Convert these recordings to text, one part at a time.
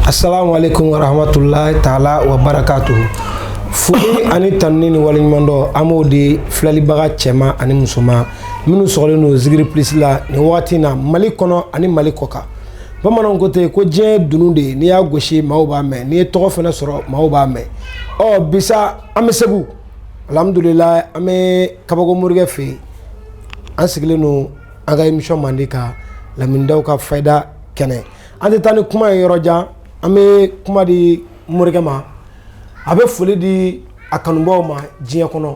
Asalamualekum warahmatulahi taala wa barakatuhu foli ani tanuni ni waleɲumandɔn an b'o di filɛlibaga cɛman ani musoman minnu sɔgɔlen don zigiri plus la nin wagati in na mali kɔnɔ ani mali kɔkan bamananw ko ten ko diɲɛ dunun de ye n'i y'a gosi maaw b'a mɛn n'i ye tɔgɔ fana sɔrɔ maaw b'a mɛn ɔ bisa an bɛ segu alhamdulilayi an bɛ kabako morikɛ fɛ yen an sigilen don an ka émission mandi kan lamindaw ka fayida kɛnɛ an tɛ taa ni kuma ye yɔrɔ jan an bɛ kuma di morikɛ ma a bɛ foli di a kanubaw ma diɲɛ kɔnɔ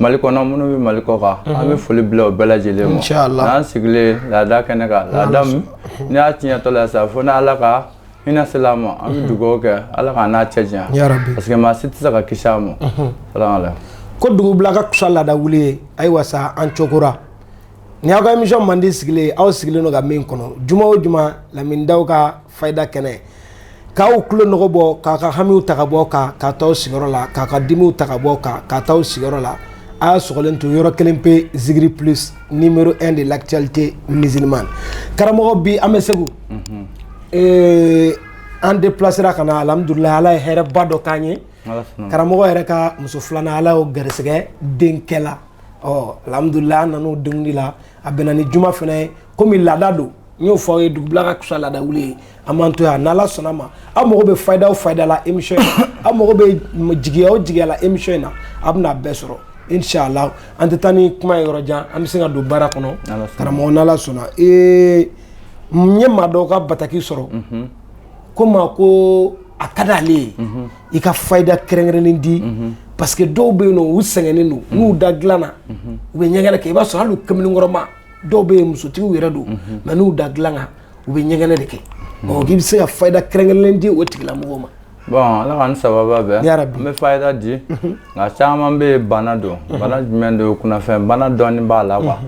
mali kɔnɔ minnu bɛ mali kɔkan an bɛ foli bila o bɛɛ lajɛlen ma n'an sigilen laada kɛnɛ kan laada n'i y'a tiɲɛtɔ la sa fo n' ala ka hinɛ sela a ma an bɛ dugawu kɛ ala ka na cɛɲa parce que maa si tɛ se ka kisi a ma ko dugu bila ka kusa laada wuli ye ayiwa sa an cokora ni aw ka émission mandi sigilen aw sigilen don ka min kɔnɔ juma o juma lamindaw ka fayida kɛnɛ k'aw tulo nɔgɔ bɔ k'a ka hamiw ta ka bɔ kan ka taa sigiyɔrɔ la k'a ka dimiw ta ka bɔ kan ka taa sigiyɔrɔ la a y'a sɔgɔlen to yɔrɔ kelen pe zigiri plus numéro 1 de l'actualité musulmane karamɔgɔ bi an bɛ segu mhm. eh, an déplacera ka na alhamdulilayi ala ye hɛrɛba dɔ k'an ye karamɔgɔ yɛrɛ ka muso filanan ala y'o garisɛgɛ denkɛ la ɔ alhamdulilayi an nan'o denguli la a bɛnna ni juma fana ye komi laada don n y'o fɔ aw ye dugubila ka kusa laada wuli ye an b'an to yan n'ala sɔnna ma aw mago bɛ fayida o fayida la émission in na aw mago bɛ jigiya o jigiya la émission in na a bɛna a bɛɛ sɔrɔ inshallah an tɛ taa ni kuma ye yɔrɔ jan an bɛ se ka don baara kɔnɔ karamɔgɔ n'ala sɔnna ee n ye maa dɔw ka bataki sɔrɔ ko maa ko a ka d'ale ye i ka fayida kɛrɛnkɛrɛnnen di parce que dɔw bɛ yen u sɛgɛnnen don n'u da dilan na u bɛ ɲɛgɛnɛ kɛ i b'a sɔrɔ hali kamalenkɔrɔma dɔw bɛ yen musotigiw yɛrɛ don mais n'u da dilan kan u bɛ ɲɛgɛnɛ de kɛ k'i bɛ se ka fayida kɛrɛnkɛrɛnnen di o tigilamɔgɔ ma bon ala saba bɛ n bɛ fayida di nka caman bɛ bana don bana jumɛn don kunnafɛn bana dɔɔni b'a la quoi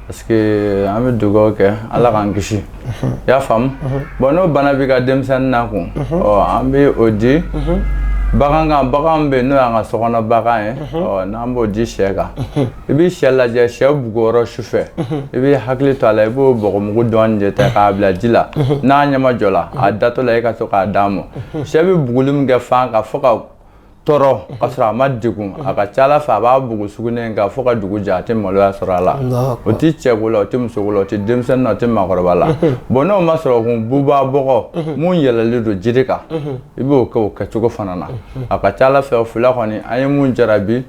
parce que an bɛ dugawu kɛ ala k'an kisi i y'a faamu bon n'o bana b'i ka denmisɛnnin na kun an bɛ o di bagan kan bagan bɛ n'o y'an ka sokɔnɔ bagan ye n'an b'o di sɛ kan i bɛ sɛ lajɛ sɛ buguyɔrɔ su fɛ i b'i hakili to a la i b'o bɔgɔmugu dɔɔni de ta k'a bila ji la n'a ɲɛmajɔla a datɔ la i ka to k'a d'a ma sɛ bɛ buguli min kɛ fan ka fo ka tɔɔrɔ ka sɔrɔ a ma degun a ka ca Ala fɛ a b'a bugu sugunɛ in kan fo ka dugu jɛ a tɛ maloya sɔrɔ a la o tɛ cɛko la o tɛ musoko la o tɛ denmisɛnnin na o tɛ maakɔrɔba la bon n'o ma sɔrɔ kun bubaga bɔgɔ mun yɛlɛlen don jiri kan i b'o kɛ o kɛcogo fana na a ka ca Ala fɛ o fila kɔni an ye mun jarabi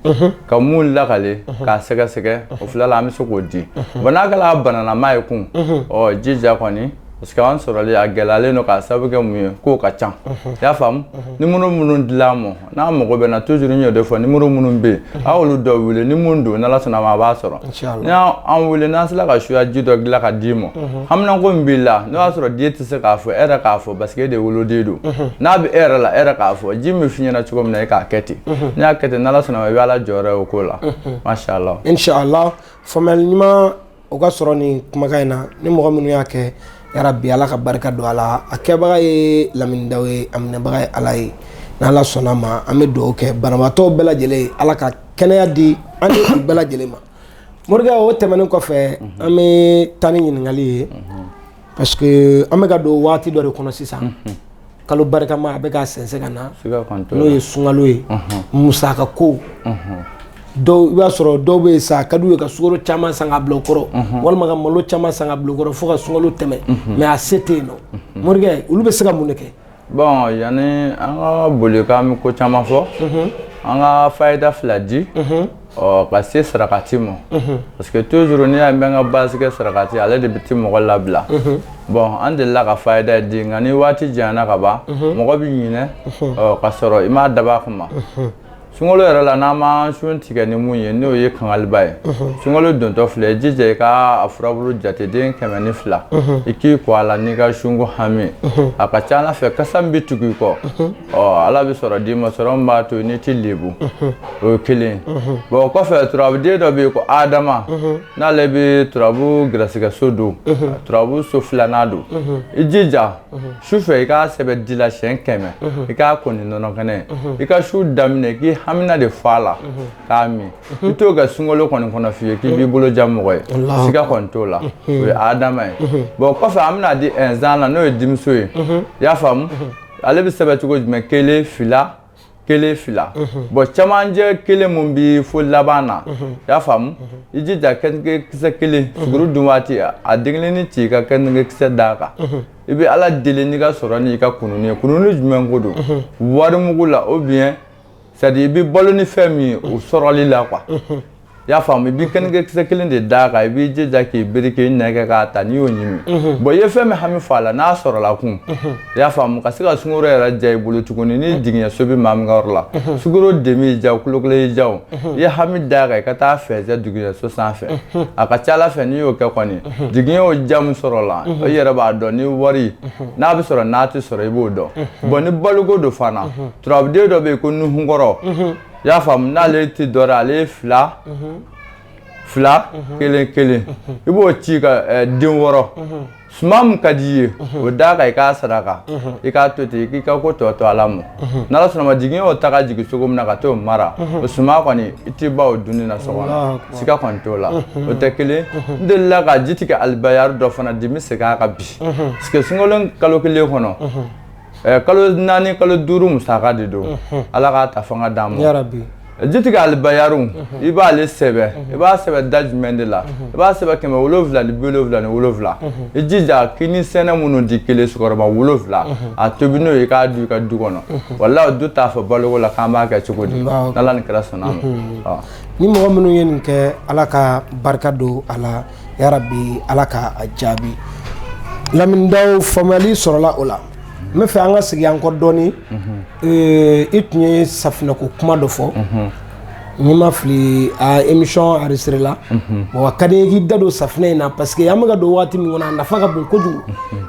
ka mun lakali k'a sɛgɛsɛgɛ o fila la an bɛ se k'o di bon n'a kɛla bananama ye kun ɔ jija kɔni parce que an sɔrɔli a gɛlɛyalen don k'a sababu kɛ mun ye k'o ka ca i y'a faamu nimoro minnu dil'a ma n'a mago b'an na toujours n y'o de fɔ nimoro minnu bɛ yen a y'olu dɔ wele ni mun don n'ala sɔnna ma a b'an sɔrɔ n'i y'an wele n'an sera ka suya ji dɔ dilan ka d'i ma haminanko min b'i la n'o y'a sɔrɔ den tɛ se k'a fɔ e yɛrɛ k'a fɔ parce que e de woloden don n'a bɛ e yɛrɛ la e yɛrɛ k'a fɔ ji min f'i ɲɛna cogo min na e k'a kɛ ten n'i y'a kɛ ten n'ala sɔnna ma i bɛ ala jɔyɔrɔ ye o ko la masha Allah inshallah faamuyali ɲuman O ka sɔrɔ nin kumakan in na ni mɔgɔ minnu y'a kɛ yarabi ala ka barika don a la a kɛbaga ye laminidaw ye a minɛbaga ye ala ye n' ala sɔnna ma an bɛ dugawu kɛ banabaatɔw bɛɛ lajɛlen ye ala ka kɛnɛya di an ni u bɛɛ lajɛlen ma morikɛ o tɛmɛnen kɔfɛ an bɛ taa ni ɲininkali ye Parce que an bɛ ka don waati dɔ de kɔnɔ sisan kalo barikama a bɛ ka sɛnsɛn ka na n'o ye sunkalo ye musaka ko dɔw i b'a sɔrɔ dɔw bɛ yen sa a ka d'u ye ka sukaro caman san ka bil'u kɔrɔ walima ka malo caman san ka bil'u kɔrɔ fo ka sunkalo tɛmɛ mais a se tɛ yen nɔ morikɛ olu bɛ se ka mun de kɛ Bon yanni an ka boli k'an bɛ ko caman fɔ an ka fayida fila di ɔ ka se sarakati ma parce que toujours n'i y'a mɛn n ka base kɛ sarakati ale de bɛ tɛ mɔgɔ labila bon an delila ka fayida di nka ni waati janyana ka ban mɔgɔ bɛ ɲinɛ ka sɔrɔ i m'a dabɔ a kama sunkalo yɛrɛ la n'an ma sun tigɛ ni mun ye n'o ye kangaliba ye sunkalo dontɔ filɛ jija i ka a furabulu jateden kɛmɛ ni fila i k'i ko a la n'i ka sunko hami a ka ca ala fɛ kasa min bɛ tugu i kɔ ɔ ala bɛ sɔrɔ d'i ma sɔrɔ min b'a to n'i tɛ lebu o ye kelen bon o kɔfɛ turabuden dɔ bɛ yen ko adama n'ale bɛ turabu garisigɛ so don turabu so filanan don i jija su fɛ i k'a sɛbɛn di la siɲɛ kɛmɛ i k'a ko ni nɔnɔ kɛnɛ i ka sun daminɛ k'i hamina de fɔ a la k'a min i t'o kɛ sunkalo kɔni kɔnɔ fiyewu k'i b'i bolo ja mɔgɔ ye siga kɔni t'o la o ye adama ye bon kɔfɛ an bɛna di ɛnzan la n'o ye dimiso ye i y'a faamu ale bɛ sɛbɛn cogo jumɛn kelen fila kelen fila bon camancɛ kelen min bɛ fo laban na i y'a faamu i jija keninge kisɛ kelen suguru dun waati a den kelennin ci i ka keninge kisɛ d'a kan i bɛ ala deli n'i ka sɔrɔ n'i ka kununni ye kununni jumɛn ko don wari mugu la ou bien c'est à dire i bɛ balo ni fɛn min ye o sɔrɔli la qu i y'a faamu i bɛ keninge kisɛ kelen de d'a kan i b'i jija k'i biri k'i nɛn kɛ k'a ta n'i y'o ɲimi mhm. bon i ye fɛn min hami fɔ a la n'a sɔrɔla kun mhm. i y'a faamu ka se ka sunkalo yɛrɛ ja i bolo tuguni ni mhm. jigiɲɛ so bi maa min ka yɔrɔ la sugoro demi y'i ja kulokolo y'i ja o i ye hami d'a kan i ka taa fɛnsɛ jigiɲɛ so sanfɛ a ka ca ala fɛ n'i y'o kɛ kɔni jigiɲɛ o ja min sɔrɔ la i yɛrɛ b'a dɔn ni wari n'a bɛ sɔrɔ n'a tɛ sɔrɔ i b'o dɔn bon ni baloko don fana turabuden dɔ bɛ yen ko nuhunkɔrɔ i y'a faamu n'ale tɛ dɔn ale ye fila fila kelen kelen i b'o ci ka eh, den wɔɔrɔ suma min ka di i ye o d'a kan i k'a saraka i k'a to ten k'i ka ko tɔ to ala ma n'ala sɔnna ma jigin y'o ta ka jigin cogo min na ka t'o mara o suma kɔni i t'i ban o dunni na so kɔnɔ siga kɔni t'o la o tɛ kelen n delila ka jitigi alibayaru dɔ fana di n bɛ segin a kan bi parce que sunkalo kalo kelen kɔnɔ Eh, kalo naani kalo duuru musaka de don ala k'a ta fanga d'an ma eh, jitigi alibayaru i b'ale sɛbɛn i b'a sɛbɛn da jumɛn de la i b'a sɛbɛn kɛmɛ wolonwula ni bi wolonwula ni wolonwula i jija kini sɛnɛ minnu di kelen sukɔrɔba wolonwula a tobi n'o ye i k'a dun i ka du kɔnɔ walahi du t'a fɔ baloko la k'an b'a kɛ cogo di n'ala ni kira sɔnna ma ni mɔgɔ minnu ye nin kɛ ala ka barika don a la yarabi ala ka a jaabi lamini daw faamuyali sɔrɔla o la n bɛ fɛ an ka segin an kɔ dɔɔnin i tun ye safinɛko kuma dɔ fɔ ni n ma fili émission enregistré la a ka di n ye k'i da don safinɛ in na parce que an bɛ ka don waati min kɔnɔ a nafa ka bon kojugu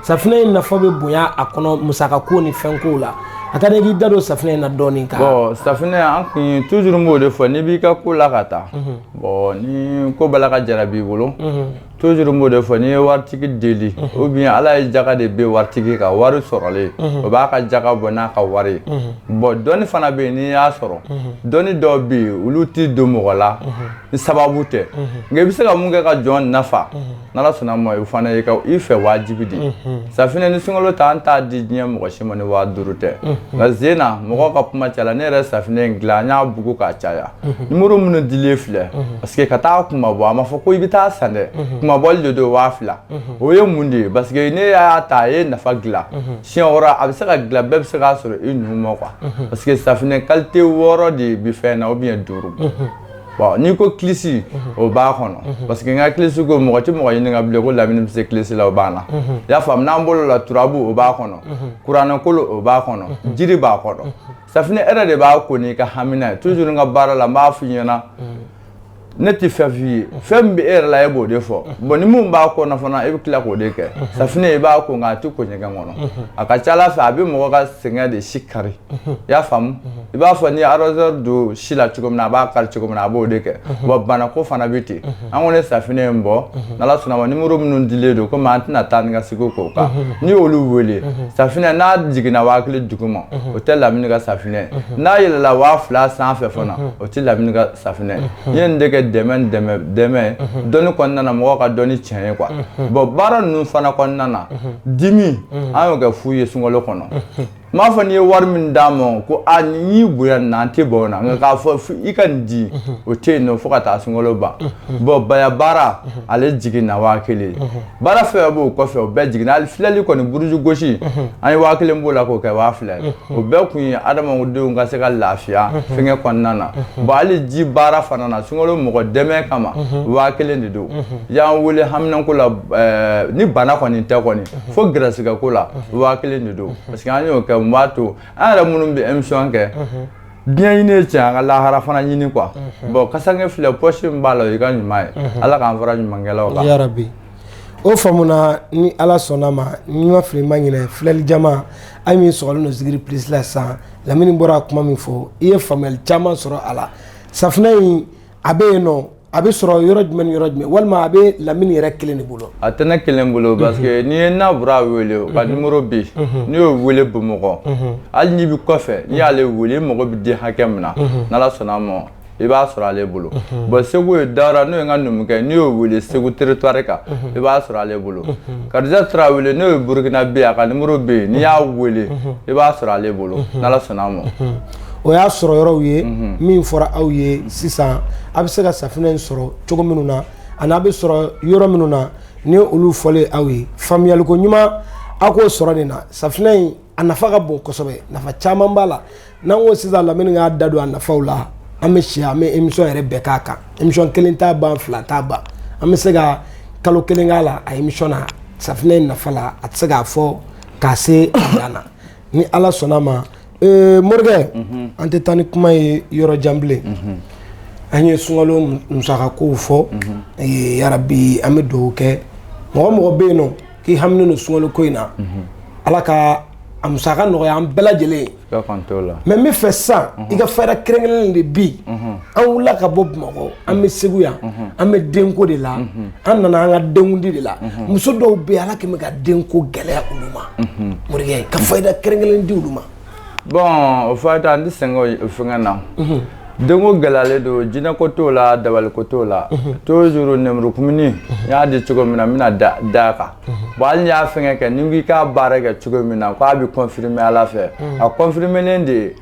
safinɛ in nafa bɛ bonya a kɔnɔ musaka ko ni fɛn ko la a ka di n ye k'i da don safinɛ in na dɔɔnin bon safinɛ an kun toujours n b'o de fɔ n'i b'i ka ko la ka taa Bon n'i ko bala ka jara b'i bolo toujours n b'o de fɔ n'i ye waritigi deli ou bien ala ye jaka de bɛ waritigi ka wari sɔrɔlen o b'a ka jaka bɔ n'a ka wari ye bon dɔnni fana bɛ yen n'i y'a sɔrɔ dɔnni dɔw bɛ yen olu tɛ don mɔgɔ la ni sababu tɛ nka i bɛ se ka mun kɛ ka jɔn nafa Ala sɔnna ma fana i fɛ wajibi de safinɛ ni sunkalo ta an t'a di diɲɛ mɔgɔ si ma ni waa duuru tɛ nka sen na mɔgɔw ka kuma caya la ne yɛrɛ safinɛ in dilan an y'a bugu k'a caya numéro minnu dilen filɛ parce que ka taa kunmabɔ a ma fɔ ko i bɛ taa san dɛ kunmabɔli de don waa fila o ye mun de ye parce que ne y'a ta a ye nafa dilan si a bɛ se ka dilan bɛɛ bɛ se k'a sɔrɔ i numu ma quoi parce que safinɛ qualité wɔɔrɔ de bi fɛn na ou bien duuru Bon n'i ko kilisi o b'a kɔnɔ parce que n ka kilisi ko mɔgɔ tɛ mɔgɔ ɲininka bilen ko lamini bɛ se kilisi la o b'a la i y'a faamu n'an bolo la turabu o b'a kɔnɔ kuranɛkolo o b'a kɔnɔ jiri b'a kɔnɔ safunɛ e yɛrɛ de b'a ko n'i ka hamina ye toujours n ka baara la n b'a f'i ɲɛna ne tɛ fɛn f'i ye fɛn min bɛ e yɛrɛ la e b'o de fɔ bon ni minnu b'a kɔnɔ fana e bɛ tila k'o de kɛ safunɛ i b'a ko nka a tɛ ko ɲɛgɛn kɔnɔ a ka ca Ala fɛ a bɛ mɔgɔ ka sɛgɛn de si kari i y'a faamu i b'a fɔ n'i ye rasoir don si la cogo min na a b'a kari cogo min na a b'o de kɛ wa banako fana bɛ ten an ko ne safinɛ in bɔ n'ala sɔnna ma nimoro minnu dilen don komi an tɛna taa ni ka segin k'o kan n'i y'olu wele safinɛ n'a jiginna waa kelen duguma o tɛ lamini ka safinɛ n'a yɛlɛla waa fila sanfɛ fana o tɛ lamini ka safinɛ n ye nin de kɛ dɛmɛ dɛmɛ dɛmɛ dɔnni kɔnɔna na mɔgɔw ka dɔnni tiɲɛ ye kuwa bɔn baara ninnu fana kɔnɔna na dimi an y'o kɛ fu ye sunkalo kɔnɔ n m'a fɔ n'i ye wari min d'a ma ko a n'i bonya na an tɛ ban o la nka k'a fɔ i ka nin di o tɛ yen nɔ fo ka taa sunkalo ban bɔn baya baara ale jiginna waa kelen baara fɛn b'o kɔfɛ o bɛɛ jiginna hali filɛli kɔni buruju gosi an ye waa kelen b'o la k'o kɛ waa fila ye o bɛɛ kun ye adamadenw ka se ka lafiya fɛnkɛ kɔnɔna na bɔn hali ji baara fana na sunkalo mɔgɔ dɛmɛ kama waa kelen de don y'an wele haminanko la ni bana kɔni tɛ kɔni fo garisigɛ ko la waa kelen de don parce que an y'o kɛ n b'a to an yɛrɛ minnu bɛ emisɔn kɛ diɲɛ ɲini ye tiɲɛ an ka lahara fana ɲini kuwa bɔn kasange filɛ pɔsi min b'a la o y'i ka ɲuman ye ala k'an fara ɲumankɛlaw kan yarabi o faamuna ni ala sɔnna ma ni n ma fili n ma ɲinɛ filɛli jama aw min sɔgɔlen don zikiri pilisi la sisan lamini bɔra kuma min fɔ i ye faamuyali caman sɔrɔ a la safinɛ in a bɛ yen nɔ a bɛ sɔrɔ yɔrɔ jumɛn yɔrɔ jumɛn walima a bɛ lamini yɛrɛ kelen de bolo a tɛ ne kelen bolo parce que n'i ye nabura wele o ka nimoro bɛ yen n'i y'o wele bamakɔ hali n'i bɛ kɔfɛ n'i y'ale wele i mago bɛ den hakɛ min na n'ala sɔnna a ma i b'a sɔrɔ ale bolo bon segu ye dara n'o ye n ka numukɛ n'i y'o weele segu territoire kan i b'a sɔrɔ ale bolo kadija tarawele n'o ye burukinabɛ a ka nimoro bɛ yen n'i y'a weele i b'a sɔrɔ ale bolo n'ala sɔnna a ma o y'a sɔrɔ yɔrɔw ye min fɔra aw ye sisan a bɛ se ka safinɛ in sɔrɔ cogo minnu na ani a bɛ sɔrɔ yɔrɔ minnu na ni olu fɔlen aw ye faamuyaliko ɲuman aw k'o sɔrɔ nin na safinɛ in a nafa ka bon kosɛbɛ nafa caman b'a la n'an ko sisan lamini k'a da don a nafaw la an bɛ si an bɛ emisɔn yɛrɛ bɛɛ k'a kan emisɔn kelen t'a ban fila t'a ban an bɛ se ka kalo kelen k'a la a emisɔn na safinɛ in nafa la a tɛ se k'a fɔ k'a se a dan na ni ala sɔnna a ma morikɛ an tɛ taa ni kuma ye yɔrɔ jan bilen an ye sunkalo musakakow fɔ aw ye yarabi an bɛ dugawu kɛ mɔgɔ mɔgɔ bɛ yen nɔ k'i haminen don sunkalo ko in na ala ka a musaka nɔgɔya an bɛɛ lajɛlen ma n b'a fɛ san i ka fayida kɛrɛnkɛrɛnnen di bi an wulila ka bɔ bamakɔ an bɛ segu yan an bɛ denko de la an nana an ka denkundi de la muso dɔw bɛ yen ala kɛlen bɛ ka denko gɛlɛya olu ma morikɛ ka fayida kɛrɛnkɛrɛnnen di olu ma bon o fayida an tɛ sɛgɛn o fɛngɛ na denko gɛlɛyalen don jinɛ ko t'o la dabali ko t'o la toujours nɛmurukumuni n y'a di cogo min na n bɛna da a kan bon hali n'i y'a fɛngɛ kɛ ni n ko i k'a baara kɛ cogo min na k'a bɛ confirmer ala fɛ a confirmelen de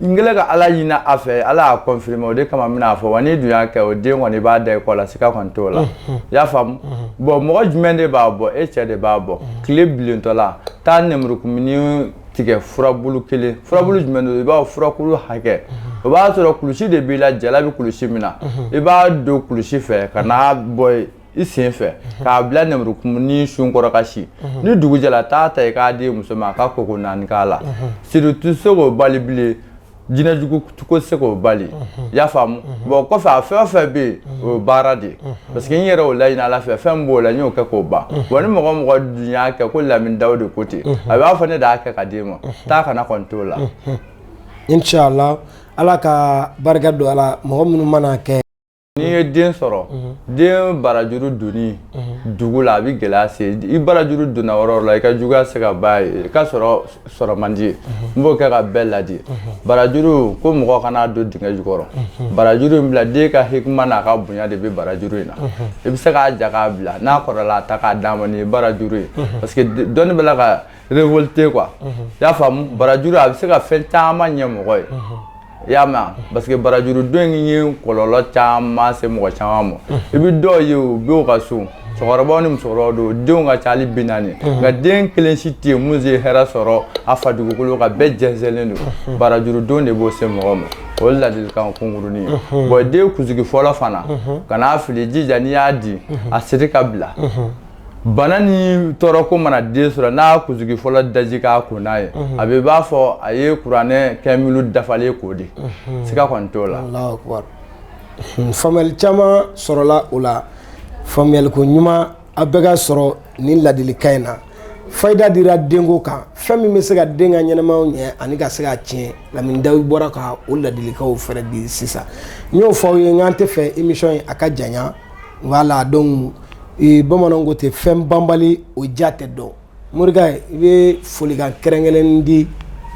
n kɛlen ka ala ɲini a fɛ ala y'a confirmer o de kama n bɛn'a fɔ wa n'i dun y'a kɛ o den kɔni b'a da i kɔ la siga kɔni t'o la i y'a faamu bon mɔgɔ jumɛn de b'a bɔ e cɛ de b'a bɔ tile bilentɔ la taa nɛmurukumuni tigɛ furabulu kelen furabulu jumɛn don i b'a furakulu hakɛ o b'a sɔrɔ kulusi de b'i la jala bɛ kulusi min na i b'a don kulusi fɛ ka n'a bɔ i sen fɛ k'a bila nɛmurukumuni sun kɔrɔ ka si ni dugu jɛra taa ta i k'a di muso ma a ka koko naani k'a la siritu tɛ se k'o bali bilen jinɛ jugu ko tɛ se k'o bali i y'a faamu bon kɔfɛ a fɛn o fɛn bɛ yen o ye baara de ye parce que n yɛrɛ y'o laɲini ala fɛ fɛn b'o la n y'o kɛ k'o ban wa ni mɔgɔ mɔgɔ dun y'a kɛ ko lamini dawude ko ten a b'a fɔ ne de y'a kɛ ka d'e ma taa ka na kɔni t'o la inshallah ala ka barika don a la mɔgɔ minnu mana kɛ n'i ye den sɔrɔ den barajuru donni dugu la a bɛ gɛlɛya se i barajuru donna yɔrɔ la i ka juguya se ka ban i ka sɔrɔ sɔrɔ man di n b'o kɛ ka bɛɛ ladi barajuru ko mɔgɔ kan'a don dingɛ jukɔrɔ barajuru in bila den ka hikima n'a ka bonya de bɛ barajuru in na i bɛ se k'a ja k'a bila n'a kɔrɔla a ta k'a d'a ma nin ye barajuru ye parce que dɔnni bɛ la ka révolter quoi i y'a faamu barajuru a bɛ se ka fɛn caman ɲɛ mɔgɔ ye i y'a mɛn parce que barajuru don in ye kɔlɔlɔ caman se mɔgɔ caman ma i bɛ dɔw ye u bɛ u ka so cɛkɔrɔbaw ni musokɔrɔbaw don denw ka ca hali bi naani nka den kelen si tɛ yen min ye hɛrɛ sɔrɔ a fa dugukolo kan bɛɛ jɛnsɛnlen don barajuru don de b'o se mɔgɔ ma o ye ladilikan kunkurunin ye bon den kunsigi fɔlɔ fana kan'a fili jija n'i y'a di a siri k'a bila bana ni tɔɔrɔ ko mana den sɔrɔ n'a kunsigi fɔlɔ daji k'a ko n'a ye a bɛ ban fɔ a ye kuranɛ kɛ minnu dafalen k'o di siga kɔni t'o la faamuyali caman sɔrɔla o la faamuyaliko ɲuman a bɛ ka sɔrɔ nin ladilikan in na fayida dira denko kan fɛn min bɛ se ka den ka ɲɛnamaya ɲɛ ani ka se k'a tiɲɛ lamini dawude bɔra ka o ladilikanw fɛɛrɛ di sisan n y'o fɔ aw ye n k'an t'a fɛ émission in a ka jan voilà donc bamananw ko ten fɛn banbali o ja tɛ dɔn morikɛ i bɛ folikan kɛrɛnkɛrɛnnen di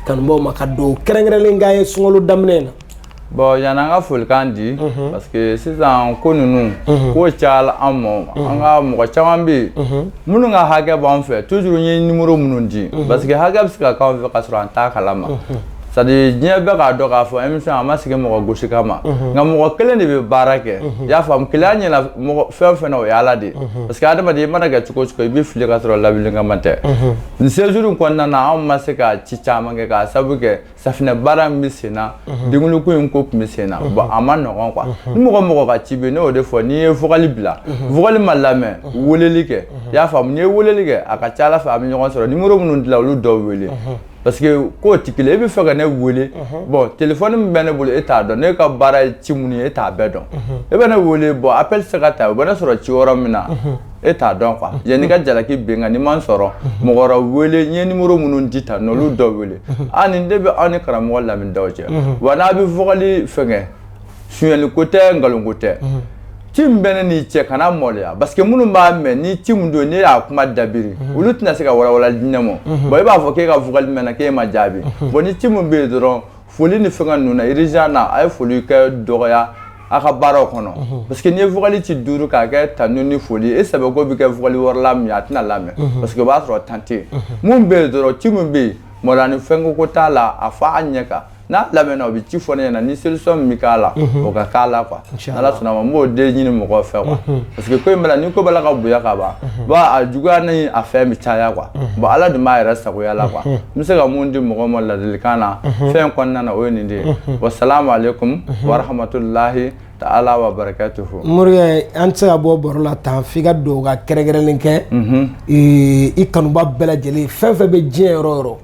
kanubaw ma ka don kɛrɛnkɛrɛnnen k'a ye sunkalo daminɛ na bon yanni an ka folikan di parce que sisan ko ninnu ko cayala an ma an ka mɔgɔ caman bɛ yen minnu ka hakɛ b'an fɛ toujours n ye numéro minnu di parce que hakɛ bɛ se ka k'an fɛ ka sɔrɔ an t'a kala ma sa diɲɛ bɛɛ k'a dɔn k'a fɔ émission a ma sigi mɔgɔ gosi kama nka mɔgɔ kelen de bɛ baara kɛ i y'a faamu kelenya ɲɛna fɛn fɛn o ye ala de ye parce que adamaden i mana kɛ cogo cogo i bɛ fili ka sɔrɔ labilikama tɛ nin séjour in kɔnɔna na anw ma se ka ci caman kɛ k'a sabu kɛ safinɛ baara min bɛ sen na denkundi ko tun bɛ sen na bon a ma nɔgɔ quoi ni mɔgɔ mɔgɔ ka ci bɛ ne y'o de fɔ n'i ye vocal bila vocal ma lamɛn weleli kɛ i y'a faamu n'i ye weleli kɛ a ka ca ala fɛ an bɛ ɲɔgɔn sɔrɔ numéro minnu dilen olu dɔw wele parce que ko t'i kelen e bɛ fɛ ka ne wele bon téléphone min bɛ ne bolo e t'a dɔn ne ka baara ye ci minnu ye e t'a bɛɛ dɔn e bɛ ne wele bon appel se ka ta o bɛ ne sɔrɔ ci yɔrɔ min na e t'a dɔn quoi yann'i ka jalaki bin n kan n'i ma n sɔrɔ mɔgɔ wɛrɛ wele n ye numéro minnu di tan olu dɔ wele a nin de bɛ aw ni karamɔgɔ lamini daw cɛ wa n'a bɛ vocal fɛnkɛ sonyɛli ko tɛ nkalon ko tɛ mhm. ci min bɛ ne n'i cɛ kana maloya parce que minnu b'a mɛn ni ci min don ne y'a kuma dabiri mhm. olu tɛna se ka walawala di ne ma mhm. bon i b'a fɔ k'e ka vocal mɛnna k'e ma jaabi bon ni ci min bɛ yen dɔrɔn foli ni fɛngɛ ninnu na urgent na a ye foli kɛ dɔgɔya a ka baaraw kɔnɔ parce que n'i ye vocal ci duuru k'a kɛ tanu ni foli ye e sɛbɛko bɛ kɛ vocal wɛrɛ la min a tɛna lamɛn parce que o b'a sɔrɔ temps tɛ yen mun bɛ yen dɔrɔn ci min bɛ yen malo ni fɛnkɛ ko t'a la a fɔ a ɲɛ kan n'a lamɛnna o bɛ ci fɔ ne ɲɛna ni solution min bɛ k'a la o ka k'a la quoi n'ala sɔnna ma n b'o de ɲini mɔgɔw fɛ quoi parce que ko in bɛna ni ko b'a la ka bonya ka ban bon a juguya ni a fɛn bɛ caya quoi bon ala dun b'a yɛrɛ sagoya la quoi n bɛ se ka mun di mɔgɔw ma ladilikan na fɛn kɔnɔna na o ye nin de ye wa salamu aleykum wa rahmatulahi Ala to fɔ mori an tɛ se ka bɔ baro la tan f'i ka dugawu ka kɛrɛnkɛrɛnlen kɛ i kanubaa bɛɛ lajɛlen ye fɛn fɛn bɛ diɲɛ yɔrɔ yɔrɔ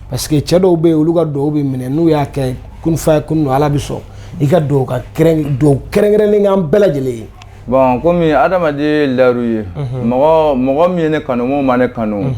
parce que cɛ dɔw bɛ yen olu ka dugawu bɛ minɛ n'u y'a kɛ kun fayakun ala bɛ sɔn i ka dugawu kɛrɛnkɛrɛnlen kɛ an bɛɛ lajɛlen ye bon kɔmi adamaden lauru ye mɔgɔ min ye ne kanu min ma ne kanu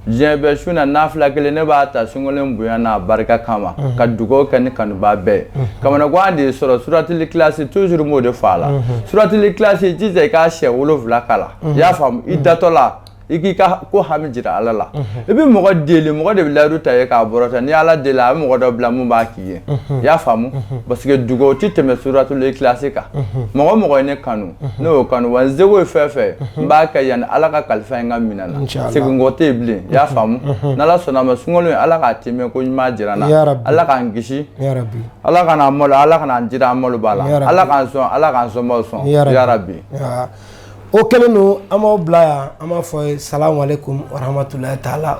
diɲɛ bɛɛ su na nafila kelen ne b'a ta sunkalo in bonya n'a barika kama mhm. ka dugawu kɛ ne kanubaa bɛɛ mhm. kamanagan de sɔrɔ suratili kilasi toujours m'o de fɔ a la mhm. suratili kilasi jija i k'a siɲɛ wolonwula kalan i y'a faamu i datɔ la i k'i ka ko hami jira ala la i bɛ mɔgɔ deli mɔgɔ de bɛ layidu ta i ye k'a bɔrɔta ni ala deli a bɛ mɔgɔ dɔ bila mun b'a kɛ ye i y'a faamu parce que dugawu tɛ tɛmɛ suratuli kilasi kan mɔgɔ mɔgɔ ye ne kanu ne y'o kanu wa n seko ye fɛn fɛn ye n b'a kɛ yanni ala ka kalifa in ka minɛ n na seginkɔ tɛ yen bilen i y'a faamu n'ala sɔnna a ma sunkalo in ala k'a tɛmɛ ko ɲuman jira n na ala k'an kisi ala kan'an malo ala kan'an jira an malobaa la ala k'an sɔn ala k'an sɔnbaaw sɔn yarabi o kɛlen don an b'aw bila yan an b'a fɔ salamalekum warahamatulayi taala